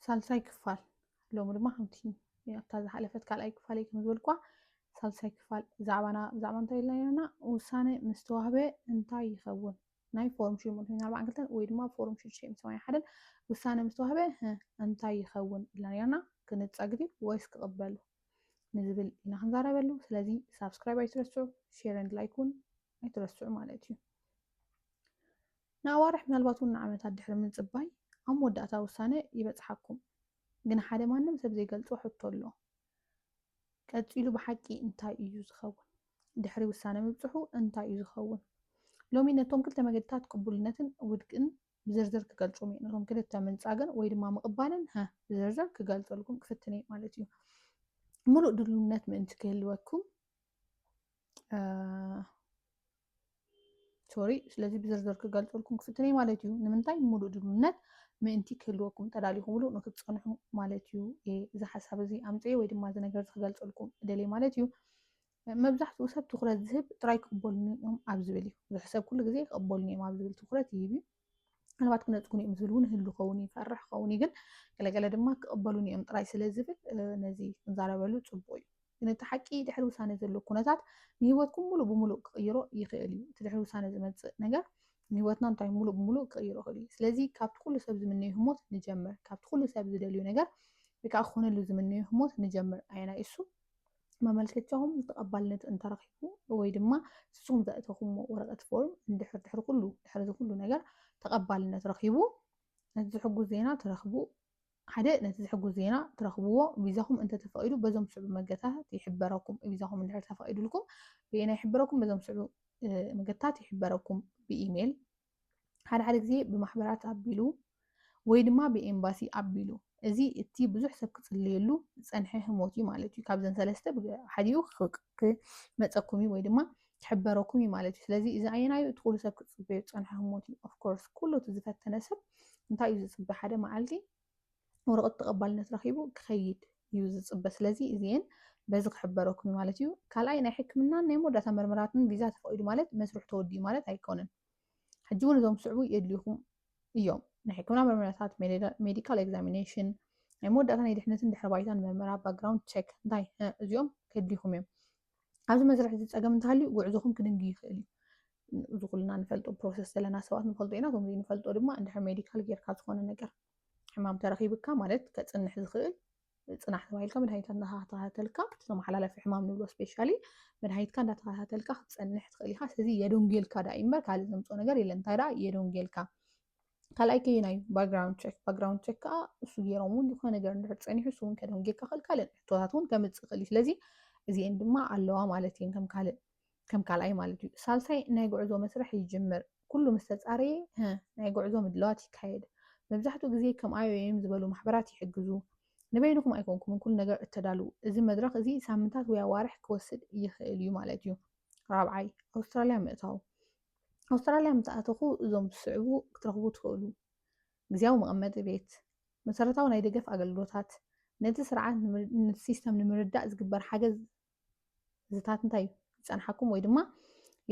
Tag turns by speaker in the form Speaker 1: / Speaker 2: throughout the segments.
Speaker 1: ሳልሳይ ክፋል ሎሚ ድማ ከምቲ ኣብታ ዝሓለፈት ካልኣይ ክፋል እዩ ከምዝበልኳ ሳልሳይ ክፋል ዛዕባና ብዛዕባ እንታይ ኢልና ነርና ውሳነ ምስ ተዋህበ እንታይ ይኸውን ናይ ፎርም ሽዱሽተ ሚእቲ ሰማንያ ኣርባዕን ክልተን ወይ ድማ ፎርም ሽዱሽተ ሚእቲ ሰማንያ ሓደን ውሳነ ምስ ተዋህበ ህ እንታይ ይኸውን ኢልና ነርና ክንጸግ ድዩ ወይስ ክቕበሉ ንዝብል ኢና ክንዛረበሉ ስለዚ ሳብስክራይብ ኣይትረስዑ ሼር ንድ ላይክ እውን ኣይትረስዑ ማለት እዩ ንኣዋርሕ ምናልባት ውን ንዓመታት ድሕሪ ምጽባይ ኣብ መወዳእታ ውሳነ ይበጽሓኩም። ግን ሓደ ማንም ሰብ ዘይገልጾ ሕቶ ኣሎ። ቀጺሉ ብሓቂ እንታይ እዩ ዝኸውን? ድሕሪ ውሳነ ምብጽሑ እንታይ እዩ ዝኸውን? ሎሚ ነቶም ክልተ መገድታት ቅቡልነትን ውድቅን ብዝርዝር ክገልጾም እየ። ነቶም ክልተ ምንጻግን ወይ ድማ ምቕባልን ሀ ብዝርዝር ክገልጸልኩም ክፍትን እየ ማለት እዩ። ምሉእ ድልውነት ምእንቲ ክህልወኩም ሶሪ ስለዚ ብዝርዝር ክገልፀልኩም ክፍትን እዩ ማለት እዩ ንምንታይ ሙሉእ ድልውነት ምእንቲ ክህልወኩም ተዳሊኹምሉ ንክትፀንሑ ማለት እዩ እዚ ሓሳብ እዚ ኣምፅኤ ወይ ድማ እዚ ነገር ክገልፀልኩም ደልየ ማለት እዩ መብዛሕትኡ ሰብ ትኩረት ዝህብ ጥራይ ክቕበሉኒ እዮም ኣብ ዝብል እዩ ብዙሕ ሰብ ኩሉ ግዜ ክቕበሉኒ እዮም ኣብ ዝብል ትኩረት ይህብ እዩ ምናልባት ክነፅጉን እዮም ዝብል እውን ህሉ ኸውን እዩ ፈርሕ ኸውን እዩ ግን ገለገለ ድማ ክቕበሉን እዮም ጥራይ ስለ ዝብል ነዚ ክንዛረበሉ ፅቡቅ እዩ ግን እቲ ሓቂ ድሕሪ ውሳነ ዘሎ ኩነታት ንህይወትኩም ሙሉእ ብሙሉእ ክቕይሮ ይኽእል እዩ እቲ ድሕሪ ውሳነ ዝመፅእ ነገር ንህይወትና እንታይ ሙሉእ ብሙሉእ ክቕይሮ ይኽእል እዩ ስለዚ ካብቲ ኩሉ ሰብ ዝምነዮ ህሞት ንጀምር ካብቲ ኩሉ ሰብ ዝደልዩ ነገር ወይ ከዓ ክኾነሉ ዝምነዮ ህሞት ንጀምር ኣየናይ እሱ መመልከቻኹም ተቐባልነት እንተረኺቡ ወይ ድማ ንስኹም ዘእተኹሞ ወረቐት ፎርም እንድሕር ድሕሪ ኩሉ ድሕሪ ዝኩሉ ነገር ተቐባልነት ረኺቡ ነቲ ዝሕጉዝ ዜና ትረኽቡ ሓደ ነቲ ዝሕጉዝ ዜና ትረኽብዎ ቪዛኹም እንተተፈቒዱ በዞም ስዕቡ መገታት ይሕበረኩም ቪዛኹም እንድሕር ተፈቒዱልኩም ብኤና ይሕበረኩም በዞም ስዕቡ መገታት ይሕበረኩም ብኢሜይል ሓደ ሓደ ግዜ ብማሕበራት ኣቢሉ ወይ ድማ ብኤምባሲ ኣቢሉ እዚ እቲ ብዙሕ ሰብ ክጽልየሉ ዝጸንሐ ህሞት እዩ ማለት እዩ ካብዘን ሰለስተ ሓዲኡ ክመፀኩም እዩ ወይ ድማ ክሕበረኩም እዩ ማለት እዩ ስለዚ እዚ ኣየናዩ እቲ ኩሉ ሰብ ክፅበዩ ዝፀንሐ ህሞት እዩ ኦፍኮርስ ኩሉ እቲ ዝፈተነ ሰብ እንታይ እዩ ዝፅበ ሓደ መዓልቲ ወረቐት ተቐባልነት ረኺቡ ክኸይድ እዩ ዝፅበ ስለዚ እዚኤን በዚ ክሕበረኩም እዩ ማለት እዩ ካልኣይ ናይ ሕክምናን ናይ መወዳእታ መርመራትን ቪዛ ተፈቒዱ ማለት መስርሑ ተወዲኡ ማለት ኣይኮነን ሕጂ እውን እዞም ስዕቡ የድልዩኹም እዮም ናይ ሕክምና መርመራታት ሜዲካል ኤግዛሚኔሽን ናይ መወዳእታ ናይ ድሕነትን ድሕረ ባይታን መርመራ ባክግራውንድ ቸክ እንታይ እዚኦም ከድልዩኹም እዮም ኣብዚ መስርሕ እዚ ፀገም እንተሃልዩ ጉዕዞኹም ክድንግ ይኽእል እዩ። እዚ ኩልና ንፈልጦ ፕሮሰስ ዘለና ሰባት ንፈልጦ ኢና ከምዚ ንፈልጦ ድማ እንድሕር ሜዲካል ጌርካ ዝኾነ ነገር ሕማም ተረኺብካ ማለት ከፅንሕ ዝኽእል ፅናሕ ተባሂልካ መድሃኒታት እንዳተኸታተልካ እቲ ተመሓላለፊ ሕማም ንብሎ ስፔሻሊ መድሃኒትካ እንዳተኸታተልካ ክትፀንሕ ትኽእል ኢኻ ስለዚ የደንጉየልካ ዳኣ እምበር ካልእ ዘምፅኦ ነገር የለን እንታይ ዳኣ የደንጉየልካ ካልኣይ ከየናይ እዩ ባክግራውንድ ቸክ ባክግራውንድ ቸክ ከዓ እሱ ገይሮም እውን ዝኾነ ነገር እንድሕር ፀኒሑ እሱ እውን ከደም ጌርካ ክእል ካልእ ሕቶታት እውን ከምፅእ ክእል እዩ ስለዚ እዚኤን ድማ ኣለዋ ማለት እየን ከም ካልእ ከም ካልኣይ ማለት እዩ ሳልሳይ ናይ ጉዕዞ መስርሕ ይጅምር ኩሉ ምስ ተፃረየ ናይ ጉዕዞ ምድለዋት ይካየድ መብዛሕትኡ ግዜ ከም ኣይኦኤም ዝበሉ ማሕበራት ይሕግዙ ንበይንኹም ኣይኮንኩምን ኩሉ ነገር እተዳልው እዚ መድረኽ እዚ ሳምንታት ወይ ኣዋርሕ ክወስድ ይኽእል እዩ ማለት እዩ ራብዓይ ኣውስትራልያ ምእታው ኣውስትራልያ ምተኣተኹ እዞም ዝስዕቡ ክትረኽቡ ትኽእሉ። ግዜያዊ መቐመጢ ቤት፣ መሰረታዊ ናይ ደገፍ ኣገልግሎታት፣ ነቲ ስርዓት ነቲ ሲስተም ንምርዳእ ዝግበር ሓገዝ ዝታት እንታይ እዩ ይጸንሓኩም ወይ ድማ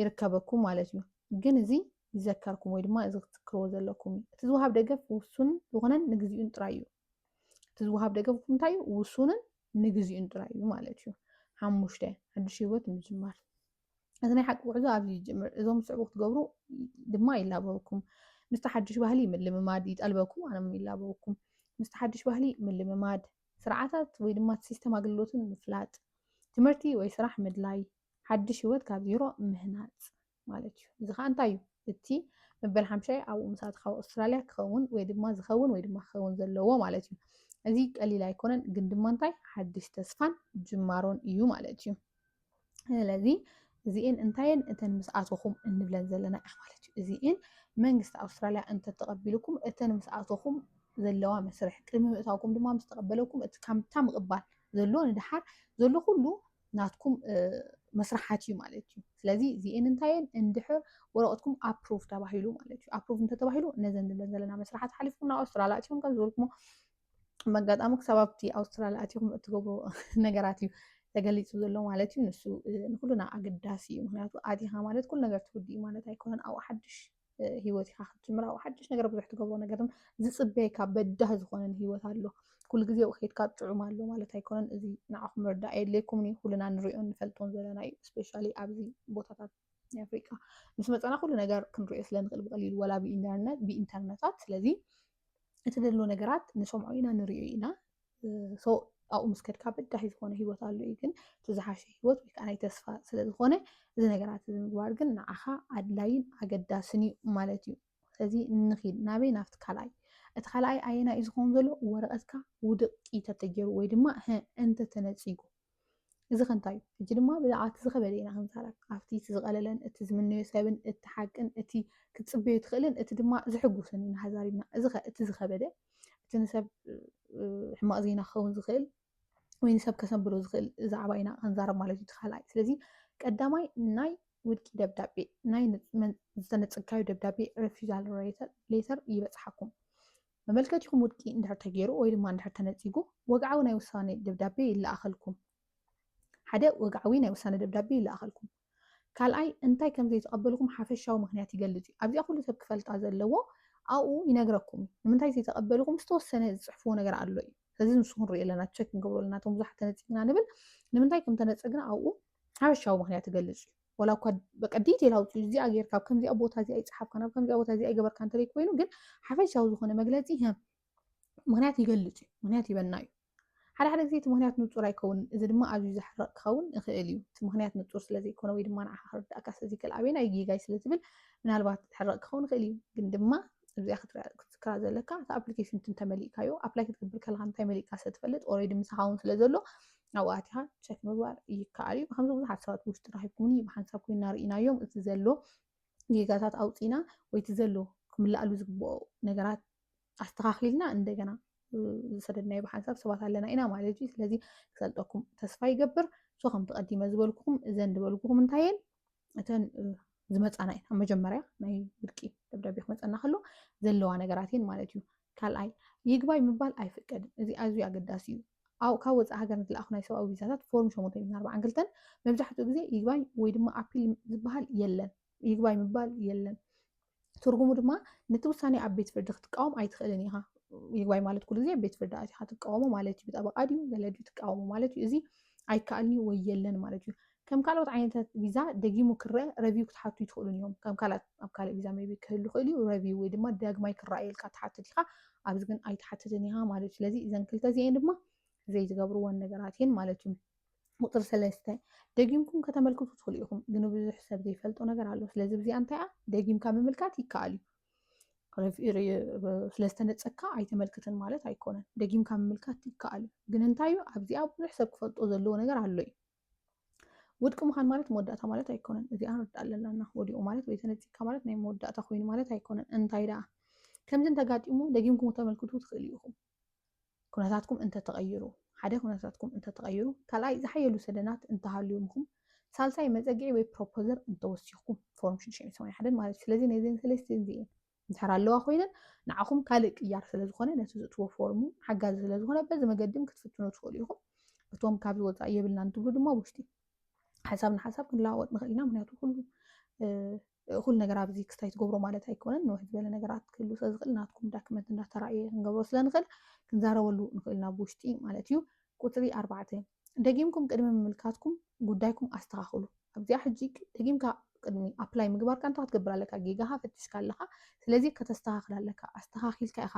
Speaker 1: ይርከበኩም ማለት እዩ። ግን እዚ ይዘከርኩም ወይ ድማ እዚ ክትዝክርዎ ዘለኩም እዩ። እቲ ዝውሃብ ደገፍ ውሱን ዝኾነን ንግዚኡን ጥራይ እዩ። እቲ ዝውሃብ ደገፍ እንታይ እዩ? ውሱንን ንግዚኡን ጥራይ እዩ ማለት እዩ። ሓሙሽተ ሓድሽ ህይወት ምጅማር እዚ ናይ ሓቂ ጉዕዞ ኣብዚ ይጅምር። እዞም ዝስዕቡ ክትገብሩ ድማ ይላበወኩም። ምስቲ ሓድሽ ባህሊ ምልምማድ ይጠልበኩም ኣነ ውን ይላበወኩም። ምስቲ ሓድሽ ባህሊ ምልምማድ፣ ስርዓታት ወይ ድማ እቲ ሲስተም ኣገልግሎትን ምፍላጥ፣ ትምህርቲ ወይ ስራሕ ምድላይ፣ ሓድሽ ህይወት ካብ ዜሮ ምህናፅ ማለት እዩ። እዚ ከዓ እንታይ እዩ? እቲ መበል ሓምሻይ ኣብኡ ምስ ኣተኻ ኣብ ኣውስትራልያ ክኸውን ወይ ድማ ዝኸውን ወይ ድማ ክኸውን ዘለዎ ማለት እዩ። እዚ ቀሊል ኣይኮነን፣ ግን ድማ እንታይ ሓድሽ ተስፋን ጅማሮን እዩ ማለት እዩ። ስለዚ እዚኤን እንታየን እተን ምስ ኣተኹም እንብለን ዘለና ኢና ማለት እዩ እዚኤን መንግስቲ ኣውስትራልያ እንተተቐቢልኩም እተን ምስ ኣተኹም ዘለዋ መስርሕ ቅድሚ ምእታውኩም ድማ ምስ ተቐበለኩም እቲ ካምታ ምቕባል ዘሎ ንድሓር ዘሎ ኩሉ ናትኩም መስርሓት እዩ ማለት እዩ ስለዚ እዚኤን እንታየን እንድሕር ወረቐትኩም ኣፕሩቭ ተባሂሉ ማለት እዩ ኣፕሩቭ እንተተባሂሉ ነዘን ንብለን ዘለና መስርሓት ሓሊፍኩም ናብ ኣውስትራልያ እትኹም ከም ዝበልኩሞ መጋጣሚ ክሳብ ኣብቲ ኣውስትራልያ ኣትኹም እትገብሩ ነገራት እዩ ተገሊፁ ዘሎ ማለት እዩ ንሱ ንኩሉና ኣገዳሲ እዩ ምክንያቱ ኣቲኻ ማለት ኩሉ ነገር ትውድ እዩ ማለት ኣይኮነን ኣብኡ ሓድሽ ሂወት ኢኻ ክትጅምር ኣብኡ ሓድሽ ነገር ብዙሕ ትገብሮ ነገርን ዝፅበየካ በዳህ ዝኾነን ሂወት ኣሎ ኩሉ ግዜ ኣብኡ ከድካ ጥዑም ኣሎ ማለት ኣይኮነን እዚ ንዓኹም ምርዳእ የድልየኩምን እዩ ኩሉና ንሪኦን ንፈልጦን ዘለና እዩ ስፔሻሊ ኣብዚ ቦታታት ናይ ኣፍሪቃ ምስ መፀና ኩሉ ነገር ክንሪኦ ስለንኽእል ብቀሊሉ ወላ ብኢንተርነታት ስለዚ እቲ ዘሎ ነገራት ንሰምዖ ኢና ንሪኦ ኢና ኣብኡ ምስ ከድካ በዳሂ ዝኾነ ሂወት ኣሎ እዩ ግን እቲ ዝሓሸ ሂወት ወይ ከዓ ናይ ተስፋ ስለዝኾነ እዚ ነገራት እዚ ምግባር ግን ንዓኻ ኣድላይን ኣገዳስን እዩ ማለት እዩ ስለዚ ንኺድ ናበይ ናብቲ ካልኣይ እቲ ካልኣይ ኣየና እዩ ዝኸውን ዘሎ ወረቐትካ ውድቅ ተተገይሩ ወይ ድማ እንተተነፂጉ እዚ ከ እንታይ እዩ? ሕጂ ድማ ብዛዕባ እቲ ዝኸበደ ኢና ክንዛረብ። ኣብቲ እቲ ዝቐለለን እቲ ዝምነዮ ሰብን እቲ ሓቅን እቲ ክትጽበዮ ትኽእልን እቲ ድማ ዝሕጉስን ኢና ተዛሪብና። እዚ ከ እቲ ዝኸበደ እቲ ንሰብ ሕማቕ ዜና ክኸውን ዝኽእል ወይ ንሰብ ከሰንብዶ ዝኽእል ዛዕባ ኢና ክንዛረብ ማለት እዩ። እቲ ካልኣይ ስለዚ ቀዳማይ ናይ ውድቂ ደብዳቤ ናይ ዝተነጸግካዮ ደብዳቤ ሬፊዛል ሌተር ይበጽሓኩም። መመልከቲኹም ውድቂ እንድሕር ተገይሩ ወይ ድማ እንድሕር ተነጺጉ ወግዓዊ ናይ ውሳኔ ደብዳቤ ይለኣኸልኩም። ሓደ ወግዓዊ ናይ ውሳኔ ደብዳቤ ይለኣኸልኩም። ካልኣይ እንታይ ከም ዘይተቐበልኩም ሓፈሻዊ ምክንያት ይገልጽ እዩ። ኣብዚኣ ኩሉ ሰብ ክፈልጣ ዘለዎ ኣብኡ ይነግረኩም እዩ። ንምንታይ ዘይተቐበልኩም ዝተወሰነ ዝጽሕፍዎ ነገር ኣሎ እዩ። ስለዚ ንሱ ክንሪኦ ኣለና ቸክ ክንገብሮ ኣለና እቶም ብዙሓት ተነጺግና ንብል ንምንታይ ከም ተነጸግና ኣብኡ ሓፈሻዊ ምክንያት ይገልጽ እዩ። ዋላ እኳ በቃ ዲቴል ኣውፅኡ እዚኣ ጌርካ ኣብ ከምዚኣ ቦታ እዚኣ ይፀሓፍካን ኣብ ከምዚኣ ቦታ እዚኣ ይገበርካ እንተዘይ ኮይኑ ግን ሓፈሻዊ ዝኾነ መግለፂ ሀ ምክንያት ይገልፅ እዩ ምክንያት ይበና እዩ ሓደ ሓደ ግዜ እቲ ምክንያት ንፁር ኣይከውን እዚ ድማ ኣዝዩ ዘሕርቕ ክኸውን ይኽእል እዩ እቲ ምክንያት ንፁር ስለዘይኮነ ወይ ድማ ንዓኻ ክርዳእካ ስለዘይክእል ኣበይና እዩ ጌጋይ ስለትብል ምናልባት ሕርቕ ክኸውን ይኽእል እዩ ግን ድማ እዚኣ ክትዝክራ ዘለካ እቲ ኣፕሊኬሽን እንተመሊእካዮ ኣፕላይ ክትገብር ከለካ እንታይ መሊእካ ስለትፈልጥ ኦልሬዲ ምሳኻ እውን ስለዘሎ ኣብኡ ኣቲኻ ቸክ ምግባር ይከኣል እዩ ከምዚ ብዙሓት ሰባት ብውሽጢ ረኺብኩምኒ ብሓንሳብ ኮይና ርኢናዮም እቲ ዘሎ ጌጋታት ኣውፂና ወይ እቲ ዘሎ ክምልኣሉ ዝግብኦ ነገራት ኣስተኻኺልና እንደገና ዝሰደድናዮ ብሓንሳብ ሰባት ኣለና ኢና ማለት እዩ ስለዚ ክሰልጠኩም ተስፋ ይገብር ሶ ከምቲ ቀዲመ ዝበልኩኹም እዘን ዝበልኩኹም እንታይ እየን እተን ዝመፃና እየን ኣብ መጀመርያ ናይ ውድቂ ደብዳቤ ክመፀና ከሎ ዘለዋ ነገራት እየን ማለት እዩ ካልኣይ ይግባይ ምባል ኣይፍቀድን እዚ ኣዝዩ ኣገዳሲ እዩ ካብ ወፃኢ ሃገር ንዝለኣኹ ናይ ሰብኣዊ ቪዛታት ፎርም ሸሞንተ ሚእትን ኣርባዓን ክልተን መብዛሕትኡ ግዜ ይግባይ ወይ ድማ ኣፒል ዝበሃል የለን ይግባይ ምባል የለን ትርጉሙ ድማ ነቲ ውሳኔ ኣብ ቤት ፍርዲ ክትቃወም ኣይትኽእልን ኢኻ። ይግባይ ማለት ኩሉ ግዜ ቤት ፍርዲ ኣቲኻ ትቃወሞ ማለት እዩ። ብጠበቃ ድዩ ገለ ድዩ ትቃወሞ ማለት እዩ። እዚ ኣይከኣልን እዩ ወይ የለን ማለት እዩ። ከም ካልኦት ዓይነታት ቪዛ ደጊሙ ክረአ ረቪው ክትሓቱ ይትኽእሉን እዮም። ከም ካልኣት ኣብ ካልእ ቪዛ ሜቢ ክህሉ ይኽእል እዩ ረቪው ወይ ድማ ዳግማይ ክረኣየልካ ትሓትት ኢኻ። ኣብዚ ግን ኣይትሓትትን ኢኻ ማለት እዩ። ስለዚ እዘን ክልተ እዚኤን ድማ ዘይትገብርወን ነገራት እየን ማለት እዩ። ቁፅሪ ሰለስተ ደጊምኩም ከተመልክቱ ትኽእሉ ኢኹም፣ ግን ብዙሕ ሰብ ዘይፈልጦ ነገር ኣሎ። ስለዚ ብዚኣ እንታይ እያ ደጊምካ ምምልካት ይከኣል እዩ። ስለ ዝተነፀካ ኣይተመልክትን ማለት ኣይኮነን። ደጊምካ ምምልካት ይከኣል እዩ። ግን እንታይ እዩ ኣብዚኣ ብዙሕ ሰብ ክፈልጦ ዘለዎ ነገር ኣሎ እዩ። ውድቂ ምዃን ማለት መወዳእታ ማለት ኣይኮነን። እዚኣ ንርዳእ ኣለና ወዲቑ ማለት ወይ ተነፂካ ማለት ናይ መወዳእታ ኮይኑ ማለት ኣይኮነን። እንታይ ደኣ ከምዚ እንተጋጢሙ ደጊምኩም ተመልክቱ ትኽእሉ ኢኹም። ኩነታትኩም እንተተቐይሩ ሓደ ኩነታትኩም እንተተቐይሩ ካልኣይ ዝሓየሉ ሰደናት እንተሃልዩምኹም ሳልሳይ መፀግዒ ወይ ፕሮፖዘር እንተወሲኹም ፎርም ሽዱሽተ ሰማንያ ሓደን ማለት እዩ ስለዚ ነዚን ሰለስቲን እዚኤን እንድሕር ኣለዋ ኮይነን ንዓኹም ካልእ ቅያር ስለ ዝኾነ ነቲ ዝእትዎ ፎርም እውን ሓጋዚ ስለ ዝኾነ በዚ መገድን ክትፍትኑ ትኽእሉ ኢኹም እቶም ካብዚ ወፃኢ የብልናን ትብሉ ድማ ውሽጢ ሓሳብ ንሓሳብ ክንለዋወጥ ንኽእል ኢና ምክንያቱ ኩሉ እኹል ነገር ኣብዚ ክስታይ ትገብሮ ማለት ኣይኮነን ንውሕ ዝበለ ነገራት ክህሉ ስለ ዝኽእል ናትኩም ዳክመንት እንዳተራእየ ክንገብሮ ስለ ንኽእል ክንዛረበሉ ንኽእል ናብ ውሽጢ ማለት እዩ ቁፅሪ ኣርባዕተ ደጊምኩም ቅድሚ ምምልካትኩም ጉዳይኩም ኣስተኻኽሉ ኣብዚኣ ሕጂ ደጊምካ ቅድሚ ኣፕላይ ምግባርካ እንታይ ክትገብር ኣለካ ጌጋኻ ፈትሽካ ኣለኻ ስለዚ ከተስተኻኽል ኣለካ ኣስተኻኺልካ ኢኻ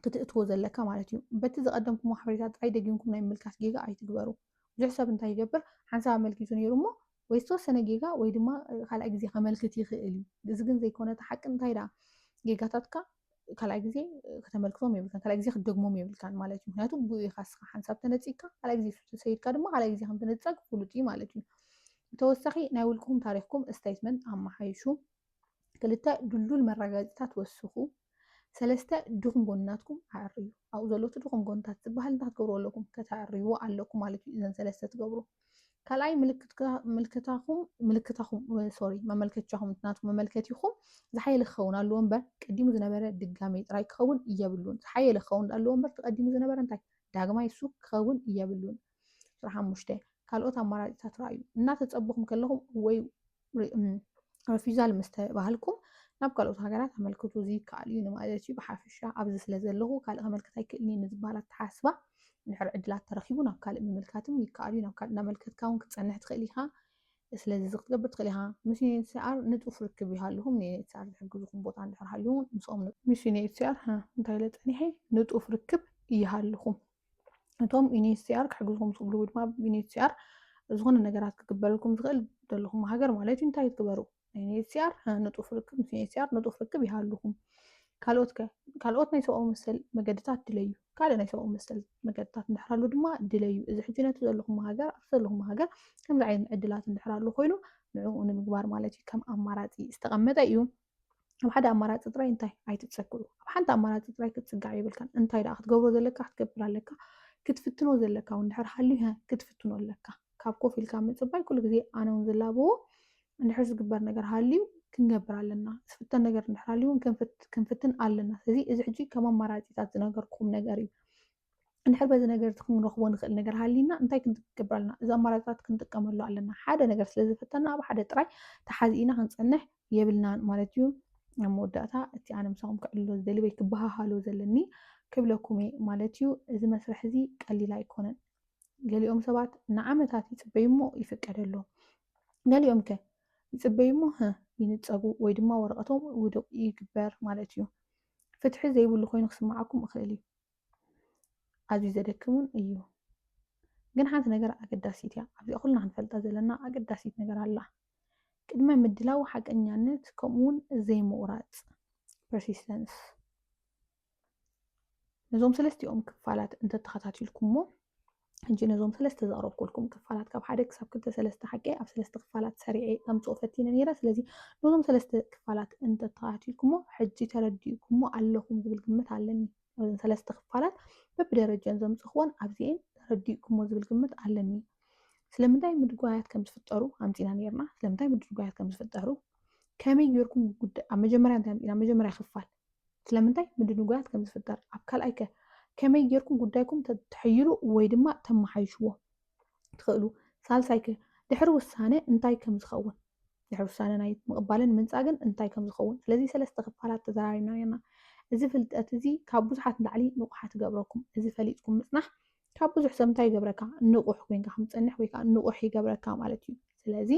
Speaker 1: ክትእትዎ ዘለካ ማለት እዩ። በቲ ዘቐደምኩሞ ሓበሬታ ጥራይ ደጊምኩም ናይ ምምልካት ጌጋ ኣይትግበሩ። ብዙሕ ሰብ እንታይ ይገብር፣ ሓንሳብ ኣመልኪቱ ነይሩ እሞ ወይ ዝተወሰነ ጌጋ ወይ ድማ ካልኣይ ግዜ ከመልክት ይኽእል እዩ። እዚ ግን ዘይኮነ እቲ ሓቂ እንታይ ደኣ ጌጋታትካ ካልኣይ ግዜ ከተመልክቶም የብልካን፣ ካልኣይ ግዜ ክትደግሞም የብልካን ማለት እዩ። ምክንያቱ ብኡ ኢኻ እስኻ ሓንሳብ ተነጺግካ፣ ካልኣይ ግዜ ተሰይድካ ድማ ካልኣይ ግዜ ከም ትንጸግ ፍሉጥ እዩ ማለት እዩ። ብተወሳኺ ናይ ውልቅኹም ታሪኽኩም፣ ስቴትመንት፣ ኣመሓይሹ። ክልተ ድልዱል መረጋገፂታት ወስኹ። ሰለስተ ድኹም ጎንናትኩም ኣዕርዩ። ኣብኡ ዘሎ እቲ ድኹም ጎንታት ዝበሃል እንታይ ክትገብሩ ኣለኩም? ከተዕርይዎ ኣለኩም ማለት እዩ። እዘን ሰለስተ ትገብሩ። ካልኣይ ምልክታኹም ምልክታኹም ሶሪ መመልከቻኹም ናቱ መመልከቲኹም ዝሓየለ ክኸውን ኣለዎ እምበር ቀዲሙ ዝነበረ ድጋሜ ጥራይ ክኸውን እየብሉን ዝሓየለ ክኸውን ኣለዎ እምበር ተቀዲሙ ዝነበረ እንታይ ዳግማይ እሱ ክኸውን እየብሉን ቁጽሪ ሓሙሽተ ካልኦት ኣማራጺታት ረኣዩ። እናተጸበኹም ከለኹም ወይ ረፊዛል ምስ ተባህልኩም ናብ ካልኦት ሃገራት ኣመልክቱ። እዚ ይከኣል እዩ ንማለት እዩ። ብሓፈሻ ኣብዚ ስለ ዘለኹ ካልእ ከመልክት ኣይክእልን እየ ንዝበሃል ኣተሓሳስባ እንድሕር ዕድላት ተረኺቡ ናብ ካልእ ምምልካትም ይከኣል እዩ። ናብ ካልእ እናመልከትካ እውን ክትጸንሕ ትኽእል ኢኻ። ስለዚ እዚ ክትገብር ትኽእል ኢኻ። ምስ ዩኤንኤችሲኣር ንጡፍ ርክብ ይሃልኹም። ንዩኤንኤችሲኣር ዝሕግዝኹም ቦታ እንድሕር ሃልዩ እውን ምስኦም ንጡፍ ምስ ዩኤንኤችሲኣር እንታይ ኢለ ጸኒሐ ንጡፍ ርክብ ይሃልኹም። እቶም ዩኒኤችሲኣር ክሕግዝኩም ዝኽእሉ ወይ ድማ ዩኒኤችሲኣር ዝኾነ ነገራት ክግበረልኩም ዝኽእል ዘለኹም ሃገር ማለት እዩ እንታይ ትግበሩ ዩኒኤችሲኣር ንጡፍ ርክብ ምስ ዩኒኤችሲኣር ንጡፍ ርክብ ይሃልኹም ካልኦት ከ ካልኦት ናይ ሰብኣዊ መሰል መገድታት ድለዩ ካልእ ናይ ሰብኣዊ መሰል መገድታት እንድሕራሉ ድማ ድለዩ እዚ ሕጂ ነቲ ዘለኹም ሃገር ኣብቲ ዘለኹም ሃገር ከምዚ ዓይነት ዕድላት እንድሕራሉ ኮይኑ ንዕኡ ንምግባር ማለት እዩ ከም ኣማራፂ ዝተቐመጠ እዩ ኣብ ሓደ ኣማራፂ ጥራይ እንታይ ኣይትፀግዑ ኣብ ሓንቲ ኣማራፂ ጥራይ ክትፅጋዕ የብልካን እንታይ ደኣ ክትገብሮ ዘለካ ክትገብር ኣለካ ክትፍትኖ ዘለካ እውን ድሕር ሃልዩ ክትፍትኖ ኣለካ ካብ ኮፍ ኢልካ ምፅባይ ኩሉ ግዜ ኣነ እውን ዝላበዎ እንድሕር ዝግበር ነገር ሃልዩ ክንገብር ኣለና ዝፍተን ነገር እንድሕር ሃልዩ እውን ክንፍትን ኣለና ስለዚ እዚ ሕጂ ከም ኣማራፂታት ዝነገርኩም ነገር እዩ እንድሕር በዚ ነገር እቲ ክንረኽቦ ንኽእል ነገር ሃሊና እንታይ ክንገብር ኣለና? እዚ ኣማራፅታት ክንጥቀመሉ ኣለና። ሓደ ነገር ስለ ዝፈተና ኣብ ሓደ ጥራይ ተሓዚእና ክንፀንሕ የብልናን ማለት እዩ። ኣብ መወዳእታ እቲ ኣነ ምሳኹም ክዕልሎ ዝደሊ ወይ ክበሃሃሎ ዘለኒ ክብለኩም እየ ማለት እዩ። እዚ መስርሕ እዚ ቀሊል ኣይኮነን። ገሊኦም ሰባት ንዓመታት ይፅበዩ እሞ ይፍቀደሎም። ገሊኦም ከ ይፅበዩ እሞ ህ ይንፀጉ ወይ ድማ ወረቐቶም ውዱቕ ይግበር ማለት እዩ። ፍትሒ ዘይብሉ ኮይኑ ክስምዓኩም እኽእል እዩ። ኣዝዩ ዘደክም እውን እዩ። ግን ሓንቲ ነገር ኣገዳሲት እያ። ኣብዚኣ ኩልና ክንፈልጣ ዘለና ኣገዳሲት ነገር ኣላ። ቅድመ ምድላው ሓቀኛነት ከምኡ እውን ዘይምቑራፅ ፐርሲስተንስ ነዞም ሰለስቲኦም ክፋላት እንተተኸታቲልኩሞ ሕጂ ነዞም ሰለስተ ዘቕረብኩልኩም ክፋላት ካብ ሓደ ክሳብ ክልተ ሰለስተ ሓቂ ኣብ ሰለስተ ክፋላት ሰሪዐ ከምፅኦ ፈቲነ ነይረ። ስለዚ ነዞም ሰለስተ ክፋላት እንተተኸታቲልኩሞ ሕጂ ተረዲእኩሞ ኣለኹም ዝብል ግምት ኣለኒ። ነዞም ሰለስተ ክፋላት በብደረጀን ዘምፅእክዎን ኣብዚኤን ተረዲእኩሞ ዝብል ግምት ኣለኒ። ስለምንታይ ምድጓያት ከም ዝፍጠሩ ኣምፂና ነይርና። ስለምንታይ ምድጓያት ከም ዝፍጠሩ ከመይ ጌርኩም ጉዳይ ኣብ መጀመርያ እንታይ ኣምፂና መጀመርያ ክፋል ስለምንታይ ምድንጓያት ከም ዝፍጠር ኣብ ካልኣይ ከ ከመይ ጌርኩም ጉዳይኩም ተሕይሉ ወይ ድማ ተመሓይሽዎ ትኽእሉ ሳልሳይ ከ ድሕሪ ውሳነ እንታይ ከም ዝኸውን ድሕሪ ውሳነ ናይ ምቕባልን ምንጻግን እንታይ ከም ዝኸውን ስለዚ ሰለስተ ክፋላት ተዘራሪብና ነርና እዚ ፍልጠት እዚ ካብ ብዙሓት ንላዕሊ ንቑሓት ይገብረኩም እዚ ፈሊጥኩም ምጽናሕ ካብ ብዙሕ ሰብ እንታይ ይገብረካ ንቑሕ ኮይንካ ከም ትጸንሕ ወይ ከዓ ንቑሕ ይገብረካ ማለት እዩ ስለዚ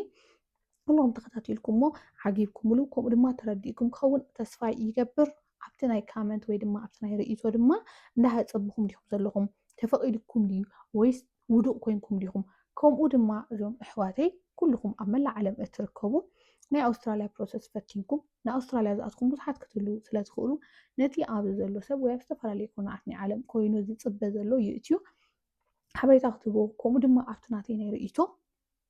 Speaker 1: ኩሎም ተኸታቲልኩሞ ዓጊብኩምሉ ከምኡ ድማ ተረዲእኩም ክኸውን ተስፋ ይገብር ኣብቲ ናይ ካመንት ወይ ድማ ኣብቲ ናይ ርእይቶ ድማ እንዳሃጸብኹም ዲኹም ዘለኹም ተፈቒድኩም ድዩ ወይስ ውዱቕ ኮንኩም ዲኹም ከምኡ ድማ እዞም እሕዋተይ ኩልኹም ኣብ መላእ ዓለም እትርከቡ ናይ ኣውስትራልያ ፕሮሰስ ፈቲንኩም ንኣውስትራልያ ዝኣትኩም ብዙሓት ክትህሉ ስለ ትኽእሉ ነቲ ኣብዚ ዘሎ ሰብ ወይ ኣብ ዝተፈላለዩ ኮናት ናይ ዓለም ኮይኑ ዝፅበ ዘሎ ይእትዩ ሓበሬታ ክትህቦ ከምኡ ድማ ኣብቲ ናተይ ናይ ርእይቶ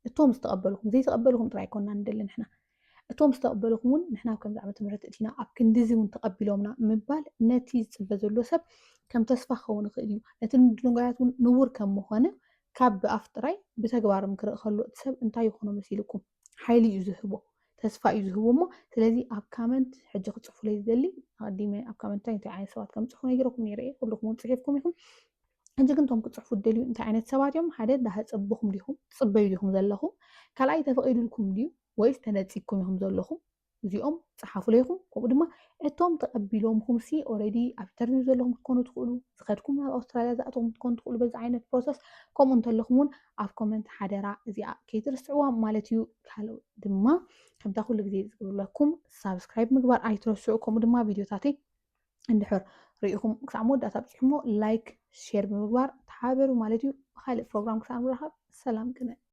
Speaker 1: እቶም ዝተቐበልኹም ዘይተቐበልኹም ጥራይ ኮና ንደሊ ንሕና እቶም ዝተቐበልኹም እውን ንሕና ኣብ ከምዚ ዓመተ ምሕረት እቲና ኣብ ክንዲዚ እውን ተቐቢሎምና ምባል ነቲ ዝፅበ ዘሎ ሰብ ከም ተስፋ ክኸውን ይኽእል እዩ ነቲ ምድንጓያት እውን ንቡር ከም ምኾነ ካብ ብኣፍ ጥራይ ብተግባርም ክርኢ ከሎ እቲ ሰብ እንታይ ይኾኖ መሲልኩም ሓይሊ እዩ ዝህቦ ተስፋ እዩ ዝህቦ እሞ ስለዚ ኣብ ካመንት ሕጂ ክፅፉለይ ዝደሊ ኣቐዲመ ኣብ ካመንት እንታይ እንታይ ዓይነት ሰባት ከም ፅፉ ነጊረኩም ነይረ እየ ኩልኩም እውን ፅሒፍኩም ኢኹም ሕጂ ግን እቶም ክጽሕፉ እትደልዩ እንታይ ዓይነት ሰባት እዮም? ሓደ ዳህጸብኹም ዲኹም ትጽበዩ ዲኹም ዘለኹም? ካልኣይ ተፈቒዱልኩም ድዩ ወይስ ተነጺግኩም ኢኹም ዘለኹም? እዚኦም ጸሓፉለይ ኢኹም። ከምኡ ድማ እቶም ተቐቢሎምኩምሲ ኦልሬዲ ኣብ ኢንተርቪው ዘለኹም ክትኮኑ ትኽእሉ፣ ዝኸድኩም ናብ ኣውስትራልያ ዝኣተኹም ክትኮኑ ትኽእሉ። በዚ ዓይነት ፕሮሰስ ከምኡ እንተለኹም እውን ኣብ ኮመንት ሓደራ እዚኣ ከይትርስዕዋ ማለት እዩ። ካልእ ድማ ከምታ ኩሉ ግዜ ዝብለኩም ሳብስክራይብ ምግባር ኣይትረስዑ፣ ከምኡ ድማ ቪድዮታተይ እንድሕር ርኢኹም ክሳዕ መወዳእታ ኣብጺሕሞ ላይክ ሼር ብምግባር ተሓባበሩ ማለት እዩ። ብኻልእ ፕሮግራም ክሳዕ ንራኸብ ሰላም ቅነ።